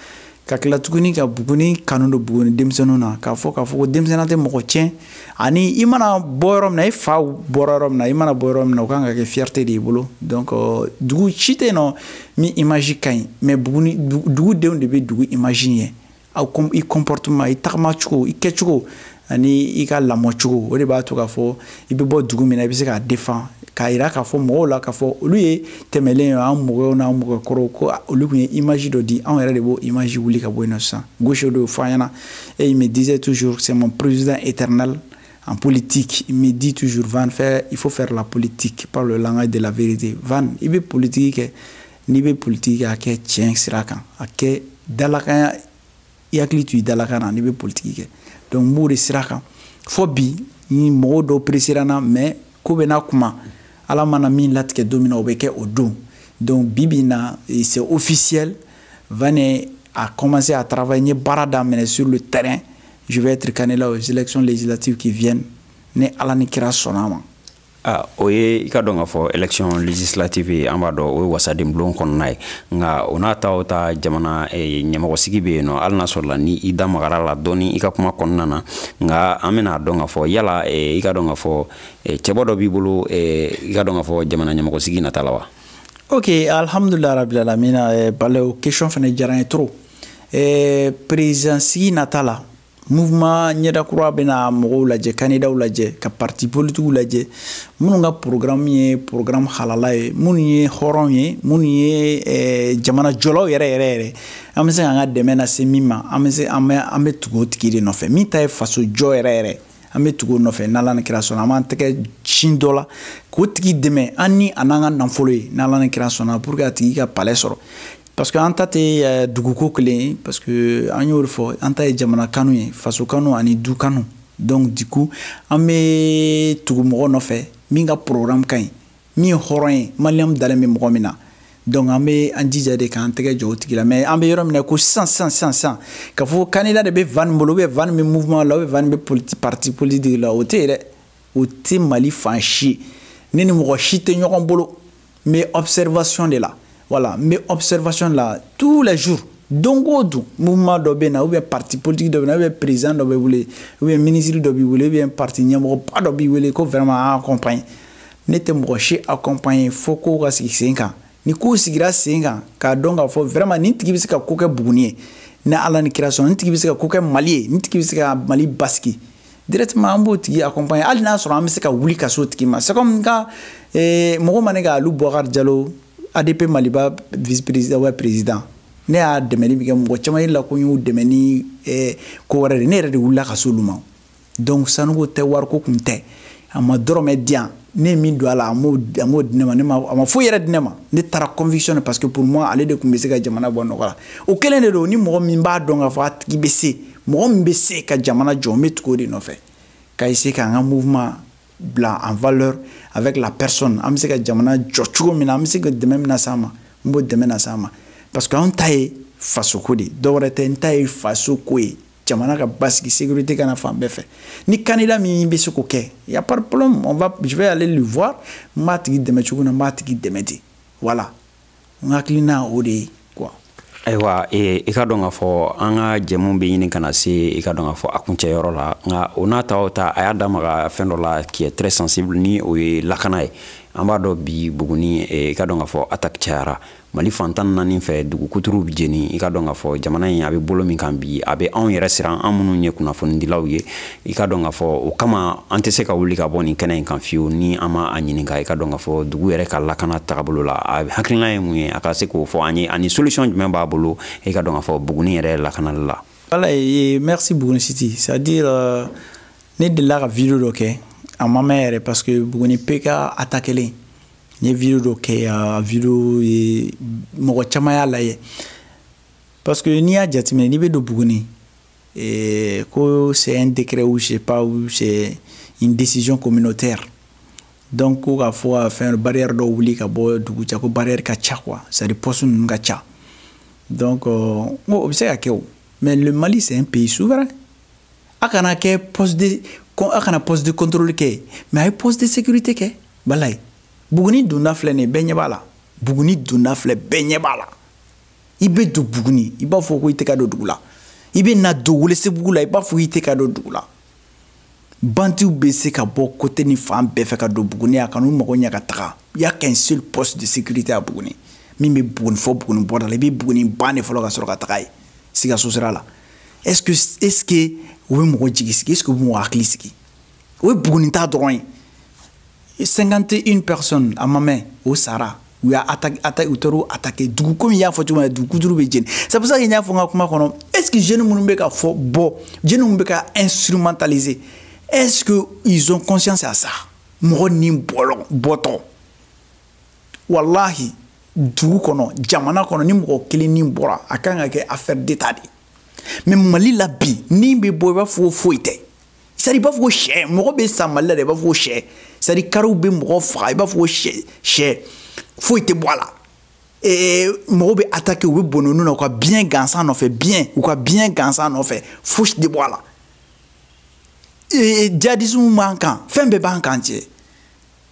ka tila tuguni ka buguni kanu don buguni denmisɛnninw na k'a fɔ k'a fɔ ko denmisɛnninya tɛ mɔgɔ tiɲɛ ani i mana bɔ yɔrɔ min na i faw bɔra yɔrɔ min na i mana bɔ yɔrɔ min na o kan ka kɛ fierté de y'i bolo donc euh, dugu si tɛ yen nɔ min image ka ɲi mais buguni dugudenw de bɛ dugu image ɲɛ aw i comportement i tagamacogo i kɛcogo ani i ka lamɔ cogo o de b'a to k'a fɔ i bɛ bɔ dugu min na i bɛ se k'a defan k'a yira k'a fɔ mɔgɔw la k'a fɔ olu ye tɛmɛlen ye an mɔgɔw n'an mɔgɔkɔrɔw ko olu tun ye image dɔ di anw yɛrɛ de b'o image wuli ka bɔ yen nɔ sisan gauche dɔw fɔ an ɲɛna et il me disait toujours c'est mon président éternel en politique il me dit toujours Van faire il faut faire la politique par le langage de la vérité Van i bɛ politique kɛ n'i bɛ politique kɛ a kɛ tiɲɛ sira kan a kɛ dalakanya i hakili to i dalakan na n'i bɛ politiki kɛ donc n b'o de sira kan fo bi ni mɔgɔw dɔw peresera na mais ko bɛɛ n'a kuma ala mana min latigɛ don min na o bɛ kɛ o don donc bi bi na c'est officiel van a commencé à travailler n ye baara daminɛ sur le terrain je vais être candidat aux élections législatives qui viennent ni ala ni kira sɔnna a ma Ah, o ye i k'a dɔn k'a fɔ élection législative ye an b'a dɔn o ye wasaden bulon kɔnɔna ye nka o n'a ta o ta jamana eh, ɲɛmɔgɔsigi bɛ yen nɔ hali n'a sɔrɔla ni i da magara a la dɔɔni i ka kuma kɔnɔna na nka an bɛna dɔn k'a fɔ yala eh, i k'a dɔn k'a fɔ eh, cɛbɔ dɔ b'i bolo i k'a dɔn k'a fɔ jamana ɲɛmɔgɔsigi nata la wa ok alhamdulilayi rabil alamina balew question fana diyara n ye trop président sigi nata la mouvement ɲɛda kura bɛna mɔgɔw lajɛ kandidaw lajɛ ka parti politikiw lajɛ minnu ka programme ye programme halala ye minnu ye hɔrɔn ye minnu ye eh, jamana jɔlaw yɛrɛ yɛrɛ yɛrɛ an bɛ se k'an ka dɛmɛ lase min ma an bɛ se an bɛ an bɛ tugu o tigi de nɔfɛ min ta ye faso jɔ yɛrɛ yɛrɛ an bɛ tugu o nɔfɛ n'ala ni kira sɔnna an b'an tɛgɛ sin dɔ la k'o tigi dɛmɛ an ni a n'an ka nafolo ye n'ala ni kira sɔnna pour que a tigi ka palɛ sɔrɔ parce que an ta tɛ eh, duguko kelen ye parce que an y'o fɔ an ta ye jamana kanu ye faso kanu ani du kanu donc du coup an bɛ tugu mɔgɔ nɔfɛ min ka programme ka ɲi min ye hɔrɔn ye maliyɛnw dalen bɛ mɔgɔ min na donc an bɛ an jija de k'an tɛgɛ jɔ o tigi la mais an bɛ yɔrɔ min na ko sisan sisan sisan sisan k'a fɔ candidat de bɛ van nin bolo ou bien van bɛ mouvement la ou bien van bɛ politi parti politique la o tɛ yen dɛ o tɛ mali fan si ne ni mɔgɔ si tɛ ɲɔgɔn bolo n bɛ observation de la voilà n bɛ observation de la tous les jours don o don mouvement dɔ bɛ na ou bien parti politique dɔ bɛ na ou bien président dɔ b'i wele ou bien ministre dɔ b'i wele ou bien parti ɲɛmɔgɔba dɔ b'i wele ko vraiment an accompagne ne tɛ mɔgɔ si accompagne fo kow ka sigi sen kan ni kow sigira sen kan k'a dɔn k'a fɔ vraiment nin tigi bɛ se ka ko kɛ buguni ye ni ala ni kira sɔnna nin tigi bɛ se ka ko kɛ mali ye nin tigi bɛ se ka mali basigi directement an b'o tigi accompagner hali n'a sɔrɔ an bɛ se ka wuli ka s'o tigi ma c'est comme n ka eh, mɔgɔ ma ne ka alu bubakar jalo adp maliba vice président wa président ne y'a dɛmɛni min kɛ mɔgɔ caman ɲɛ na ko n y'u dɛmɛ ni eh, ko wɛrɛ de ne yɛrɛ de wulila ka s'olu ma donc sanuko tɛ wariko tun tɛ a ma dɔrɔmɛ di yan ne ye min don a la a m'o di ne ma ne ma a ma foyi yɛrɛ di ne ma ne taara conviction de parce que pour moi ale de tun bɛ se ka jamana bɔ nɔgɔ la o kelen de don ni mɔgɔ min b'a dɔn k'a fɔ a tigi bɛ se mɔgɔ min bɛ se ka jamana jɔ n bɛ tugu o de nɔfɛ ka essayer k'an ka mouvement bila en valeur avec la personne an bɛ se ka jamana jɔ cogo min na an bɛ se ka dɛmɛ min las'a ma n b'o dɛmɛ las'a ma parce que anw ta ye fasoko de ye dɔwɛrɛ tɛ n ta ye fasoko ye jamana ka basigi sécurité ka na fan bɛɛ fɛ ni candidat min bɛ se k'o kɛ y a pas de problème on va je vais aller le voir n b'a tigi dɛmɛ cogo min na n b'a tigi dɛmɛ ten voilà n hakilina o de ye quoi ayiwa e, i ka dɔn k'a fɔ an ka jɛmu bɛ ɲini ka na se i ka dɔn k'a fɔ a kuncɛyɔrɔ la nka o n'a ta o ta a y'a da maga fɛn dɔ la qui est très sensible ni o ye lakana ye an b'a dɔn bi buguni e, i ka dɔn k'a fɔ attaque cayara mali fan tan naani fɛ dugu kuturuw bɛ jeni i ka dɔn k'a fɔ jamana in a bɛ bolo min kan bi a bɛ anw yɛrɛ siran an minnu ye kunnafonidilaw ye i ka dɔn k'a fɔ o kama an tɛ se ka wuli ka bɔ nin kɛnɛ in kan fiyewu ni an ma a ɲininka i ka dɔn k'a fɔ dugu yɛrɛ ka lakana tagabolo la a hakilina ye mun ye a ka se k'o fɔ an ye ani solution jumɛn b'a bolo i ka dɔn k'a fɔ buguni yɛrɛ lakanali la ala ye merci buguni siti c'est à dire euh, ne delila ka video dɔ kɛ a ma mɛn yɛrɛ parce que buguni pk attaquelen n ye video dɔ kɛ a video ye mɔgɔ caman y'a lajɛ parce que n'i y'a jateminɛ n'i bɛ don buguni Et que c'est un décret ou je sais pas, ou c'est une décision communautaire. Donc, ko k'a fɔ a fɛn barrière dɔ wuli ka bɔ dugu cɛ ko barrière ka ca quoi c'est à dire poste ninnu ka ca donc euh, n ko o bɛ se ka kɛ o mais le Mali c'est un pays souverain a kana kɛ poste de a kana poste de contrôle kɛ mais a ye poste de sécurité kɛ walahi Buguni donda filɛ nin ye bɛɛ ɲɛ b'a la Buguni donda filɛ bɛɛ ɲɛ b'a la i bɛ don buguni i b'a fɔ ko i tɛ ka don dugu la i bɛ na don welesebugu la i b'a fɔ i tɛ ka don dugu la banditw bɛ se ka bɔ côté ni fan bɛɛ fɛ ka don buguni a ka n'u mago ɲɛ ka taga il y a qu'un seul poste de sécurité à buguni min bɛ buguni fo buguni bɔda la i bɛ buguni ban de fɔlɔ ka sɔrɔ ka tag'a ye sikaso sira la est ce que est ce que u bɛ mɔgɔ jigi sigi est ce que u bɛ mɔgɔ hakili sigi o ye bugunita dɔrɔn ye 51 personnes a ma mɛn o sara u y'a attaque attaque u taar'u attaque dugu komi y'a fɔ cogo min na dugu kuturu bɛ jeni c'est pour ça que n y'a fɔ n ka kuma kɔnɔ est ce que jeunes minnu bɛ ka fɔ bɔ jeunes minnu bɛ ka instrumentaliser est ce que ils ont conscience à ça mɔgɔ ni bɔlɔ bɔtɔ walahi dugu kɔnɔ jamana kɔnɔ ni mɔgɔ kelen ni bɔra a kan ka kɛ affaire d'état de ye mais mali la bi ni bɛ bɔ i b'a fɔ ko foyi tɛ c'est à dire i b'a fɔ ko shɛ mɔgɔ bɛ sa mali la dɛ i b'a fɔ ko shɛ c'est à dire kariw bɛ mɔgɔ faga i b'a fɔ ko shɛ shɛ foyi tɛ bɔ a la ee mɔgɔw bɛ attaquer u bɛ bɔnɛ u ni na u ka biyɛ gansan nɔfɛ biyɛ u ka biyɛ gansan nɔfɛ fosi tɛ bɔ a la ee jadisiw b'an kan fɛn bɛɛ b'an kan cɛ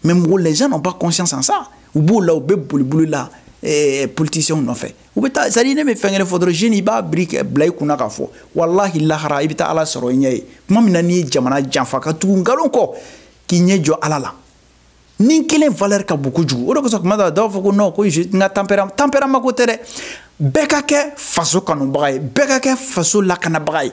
mais mɔgɔ les gens n'ont pas conscience en ça u b'o la u bɛ boliboli la eh, politiciens nɔfɛ u bɛ taa c'est à dire ne bɛ fɛn kelen fɔ dɔrɔn jeune i b'a miiri k'a bila i kun na k'a fɔ walahi lahara i bɛ taa ala sɔrɔ i ɲɛ ye tuma min na n'i ye jamana janfa ka tugu nkalon kɔ k'i ɲɛ jɔ ala la ni kelen valeur ka bon kojugu o de kosɔn kuma dɔ la dɔw b'a fɔ ko non ko n ka tempérament tempérament ko tɛ dɛ bɛɛ ka kɛ faso kanubaga ye bɛɛ ka kɛ faso lakanabaga ye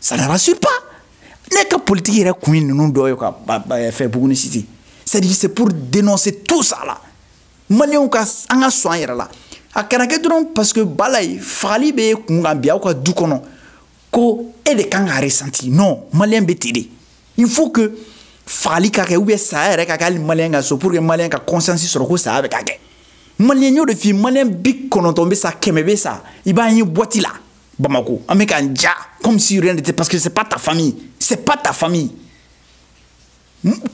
ça ne rassure pas ne ka politiki yɛrɛ kun ye ninnu dɔ ye ka fɛ buguni siti c'est à dire c'est pour dénoncer tout ça là maliyɛnw ka an ka sɔn an yɛrɛ la a kana kɛ dɔrɔn parce que bala ye fagali bɛ kun kan bi aw ka du kɔnɔ ko e de kan ka ressentir non maliyɛn bɛ ten de il faut que fagali ka kɛ ou bien saya yɛrɛ ka kɛ hali maliyɛn ka so pour que maliyɛn ka conscience sɔrɔ ko saya bɛ ka kɛ maliyɛn y'o de f'i ye maliyɛn bi kɔnɔntɔn bɛ sa kɛmɛ bɛ sa i b'a ye boîte la Bamako, an bɛ k'an ja comme si rien n'était parce que c'est pas ta famille, c'est pas ta famille.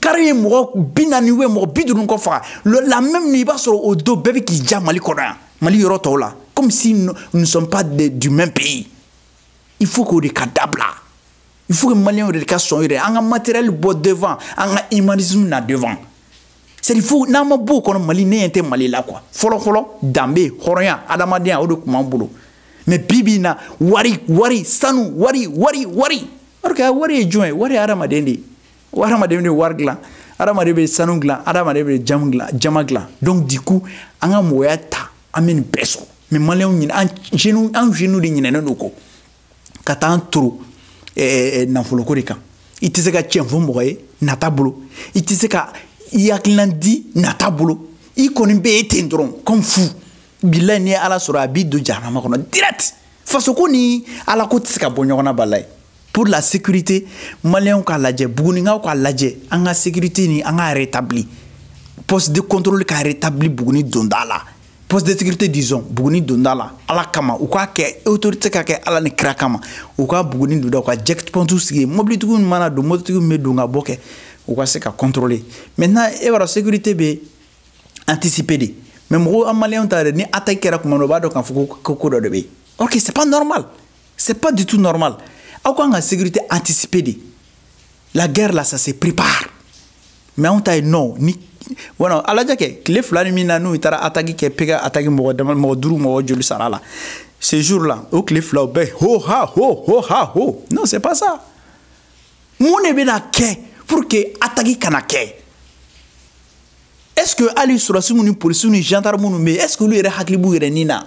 kari ye mɔgɔ bi naani ou bien mɔgɔ bi duuru kɔ faga la même i b'a sɔrɔ o don bɛɛ bɛ k'i ja mali kɔnɔ yan mali yɔrɔ tɔw la comme si nous ne sommes pas de, du même pays il faut k'o de ka dabila il faut que maliyɛnw de ka sɔn yɛrɛ an ka matériel bɔ devant an ka humanisme na devant c'est à dire fo n'an ma b'o kɔnɔ mali ne ɲɛ tɛ mali la quoi fɔlɔfɔlɔ danbe hɔrɔnya adamadenya o de tun b'an bolo mais bi bi in na wari wari sanu wari wari wari or que wari ye jɔn ye wari ye adamaden de ye adamaden de wari dilan adamaden bɛ sanu dilan adamaden bɛ jamu dilan jaman dilan donc du coup an ka mɔgɔya ta an bɛ nin bɛɛ sɔrɔ mais maliyɛnw ɲin an jeunew an jeunew de ɲinɛnen don kɔ ka taa an toro eh, eh, nafoloko de kan i tɛ se ka tiɲɛ fɔ mɔgɔ ye nata bolo i tɛ se ka i hakililan di nata bolo i kɔni bɛ ye ten dɔrɔn comme fou bilayi n'i ye ala sɔrɔ a b'i don jahanama kɔnɔ direct fasoko ni ala ko tɛ se ka bɔ ɲɔgɔn na bilayi pour la sécurité maliyɛnw k'a lajɛ bugunikaw k'a lajɛ an ka sécurité ni an ka rétabli poste de contrôle ka rétabli buguni donda la poste de sécurité disons buguni donda la ala kama u k'a kɛ autorité k'a kɛ ala ni kira kama u ka buguni donda u ka checkpoint sigi mobilitigiw mana don mobilitigiw bɛ don ka bɔ kɛ u ka se ka contrôler maintenant e b'a dɔn sécurité bɛ anticiper de mais mɔgɔw an maliyɛnw ta yɛrɛ ni attaque kɛra tuma dɔ u b'a dɔn k'a fɔ ko ko dɔ de bɛ yen or que c'est pas normal c'est pas du tout normal aw kan ka sécurité anticiper de la guerre là ça se prépare mais anw ta ye non ni wala a lajɛ kɛ tile fila ni min na n'u taara ataki kɛ pk ataki mɔgɔ dama mɔgɔ duuru mɔgɔ joli sara la ce jour là o tile fila o bɛɛ ho ha ho ho ha ho non c'est pas ça mun de bɛna kɛ pour que ataki kana kɛ est ce que hali sɔrɔdasiw ni polisiw ni gendarmes ninnu bɛ yen est ce que olu yɛrɛ hakili b'u yɛrɛ ni na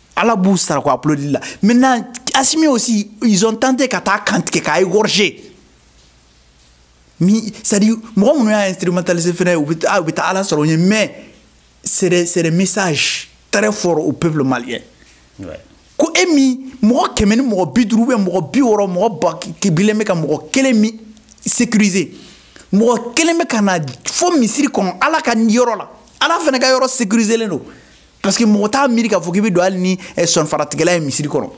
ala b'u sara ko applaudi la maintenant asimi aussi ils ont tenté ka taa kantigɛ k'a égorger mi c'est à dire mɔgɔ minnu y'a instrumentaliser fɛnɛ u bɛ u bɛ taa ala sɔrɔ u ɲɛ mais c'est des c'est des messages très forts au peuple malien ouais. ko e min mɔgɔ kɛmɛ ni mɔgɔ bi duuru ou bien mɔgɔ bi wɔɔrɔ mɔgɔ ba kibilen bɛ ka mɔgɔ kelen min sécuriser mɔgɔ kelen bɛ ka na fo misiri kɔnɔ ala ka yɔrɔ la ala fana ka yɔrɔ sécuriselen don parce que mɔgɔ t'a miiri k'a fɔ k'i bɛ don hali ni eh, sɔnfaratigɛla ye misiri kɔnɔ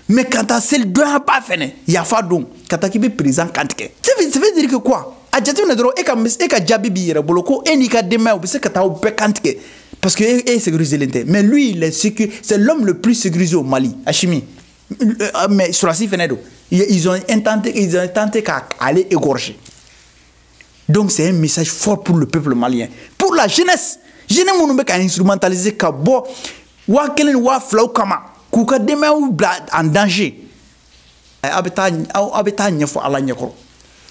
mais ka taa seli donba fɛnɛ yafa don ka taa k'i bɛ président kantigɛ ça veut dire que quoi a jateminɛ dɔrɔn e ka e ka jaabi b'i yɛrɛ bolo ko e n'i ka denbaya u bɛ se ka taa aw bɛɛ kantigɛ parce que e, e sécuriselen tɛ mais lui il est sécu c'est l'homme le plus sécurisé au Mali Asimi euh, mais sɔrɔdasi fɛnɛ don ils ont intenté ils ont tenté ka ale égorger donc c'est un message fort pour le peuple malien pour la jeunesse jeune minnu bɛ ka instrumentaliser ka bɔ waa kelen ni waa filaw kama k'u ka denbayaw bila en danger aw bɛ taa aw bɛ t'a ɲɛfɔ ala ɲɛkɔrɔ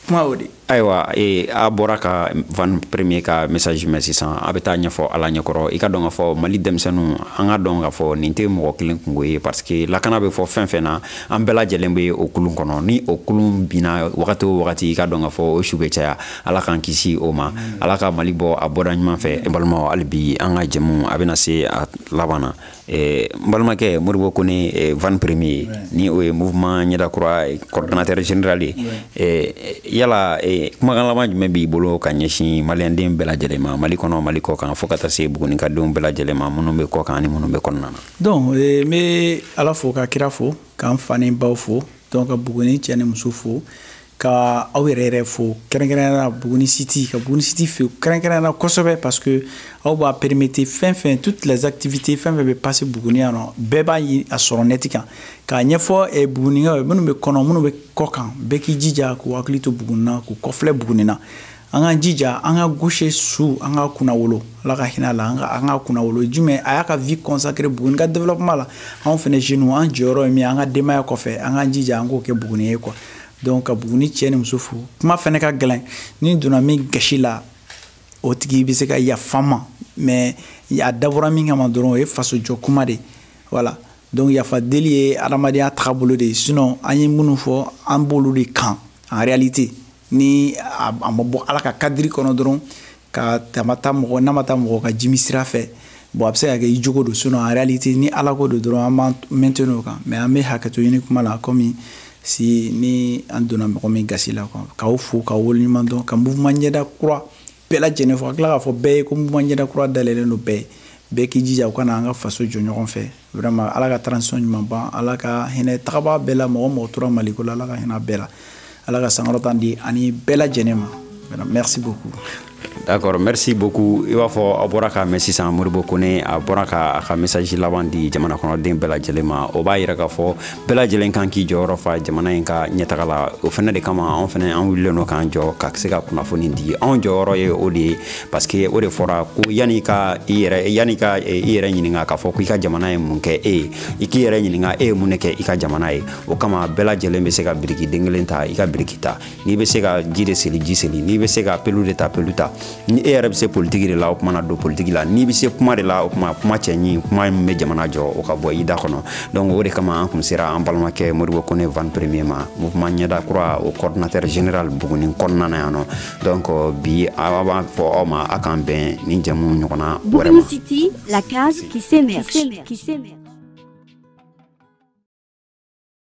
kuma y'o de ayiwa ee a bɔra ka van premier ka message de mɛn sisan a bɛ t'a ɲɛfɔ ala ɲɛkɔrɔ i k'a dɔn k'a fɔ mali denmisɛnninw an k'a dɔn k'a fɔ nin tɛ mɔgɔ kelen kunko ye parce que lakana bɛ fɔ fɛn fɛn na an bɛɛ lajɛlen bɛ o kulun kɔnɔ ni o kulun binna wagati o wagati i k'a dɔn k'a fɔ o su bɛ caya ala k'an kisi o ma ala ka mali bɔ a bɔda ɲuman fɛ n balimaw hali bi an ka jɛmu a bɛna se a laban na eh, n balimakɛ modibo kone eh, van premier ni o ye mouvement ɲɛdakura eh, coordonnateur général ye yala kumakan laban jumɛn b'i bolo ka ɲɛsin maliyɛnden bɛɛ lajɛlen ma mali kɔnɔ mali kɔ kan fo ka taa se buguni ka denw bɛɛ lajɛlen ma minnu bɛ kɔ kan ani minnu bɛ kɔnɔna na donc eh, n bɛ ala fo ka kira fo k'an fa ni baw fo donc ka buguni cɛ ni muso fo ka aw yɛrɛ yɛrɛ fo kɛrɛnkɛrɛnyana buguni siti ka buguni siti fo kɛrɛnkɛrɛnyana kosɛbɛ parce que aw b'a permettre fɛn fɛn toutes les activités fɛn fɛn bɛ passer buguni yan mɔgɔ bɛɛ b'a ye a sɔrɔ nɛti kan k'a ɲɛfɔ eh, bugunikaw ye minnu bɛ kɔnɔ minnu bɛ kɔ kan bɛɛ k'i jija k'u hakili to buguni na k'u kɔfilɛ buguni na an k'an jija an ka goshe su an ka kunnawolo ala ka hinɛ a la an ka an ka kunnawolo jumɛn a y'a ka vie consacré buguni ka développement la anw fɛnɛ jeunes an jɔyɔrɔ ye min an ka denbaya kɔfɛ an k'an jija an k'o kɛ buguni ye quoi donc ka buguni cɛ ni muso fo kuma fɛnɛ ka gɛlɛn ni n donna min gasi la o tigi bɛ se ka yafa n ma mais a dabɔra min kama dɔrɔn o ye faso jɔ kuma de voilà donc yafa deli ye adamadenya tagabolo de ye sinon an ye minnu fɔ an b'olu de kan en réalité ni a ma bɔ ala ka kadiri kɔnɔ dɔrɔn ka tama ta mɔgɔ n'a ma taa mɔgɔ ka jimi sira fɛ bon a bɛ se ka kɛ i jogo don sinon en réalité ni ala ko don dɔrɔn an b'an maintenir o kan mais an bɛ hakɛto ɲini kuma la komi si ni an donna mɔgɔ min gasi la k'aw fo k'aw waleɲuman dɔn ka mouvement ɲɛda kura bɛɛ lajɛlen fo ka tila k'a fɔ bɛɛ ye ko mouvement ɲɛda kura dayɛlɛlen don bɛɛ ye bɛɛ k'i jija u ka na an ka faso jɔ ɲɔgɔn fɛ vraiment ala ka transition ɲuman ban ala ka hinɛ tagabaa bɛɛ la mɔgɔ mɔgɔ tora maliko la ala ka hinɛ bɛɛ la ala ka sankɔrɔta di an ni bɛɛ lajɛlen ma merci beaucoup d'accord merci beaucoup i b'a fɔ a bɔra k'a mɛn sisan moribo kone a bɔra ka a ka message laban di jamana kɔnɔden bɛɛ lajɛlen ma o b'a yira k'a fɔ bɛɛ lajɛlen kan k'i jɔyɔrɔ fa jamana in ka ɲɛtaga la o fana de kama anw fana an wulilen don k'an jɔ ka se ka kunnafoni di anw jɔyɔrɔ ye o de ye parce que o de fɔra ko yanni i ka i yɛrɛ yanni i ka i yɛrɛ ɲininka k'a fɔ ko i ka jamana ye mun kɛ e ye i k'i yɛrɛ ɲininka e ye mun de kɛ i ka jamana ye o kama bɛɛ lajɛlen bɛ se ka biriki den kelen ta i ka biriki ta n'i bɛ se ka ji de soli ji soli n'i bɛ se ka pelu de ta pelu ta ni e yɛrɛ bɛ se politiki de la o tuma na don politiki la n'i bɛ se kuma de la o tuma kuma cɛɲi kuma min bɛ jamana jɔ o ka bɔ i da kɔnɔ donc o de kama an kun sera an balimakɛ moribo kone van premier ma mouvement ɲɛda kura o coordinateur général buguni kɔnɔna na yan nɔ donc bi an b'a fɔ aw ma a k'an bɛn ni jɛmuɲɔgɔnya wɛrɛ ma City, la case qui s'émerge. Qui s'émerge.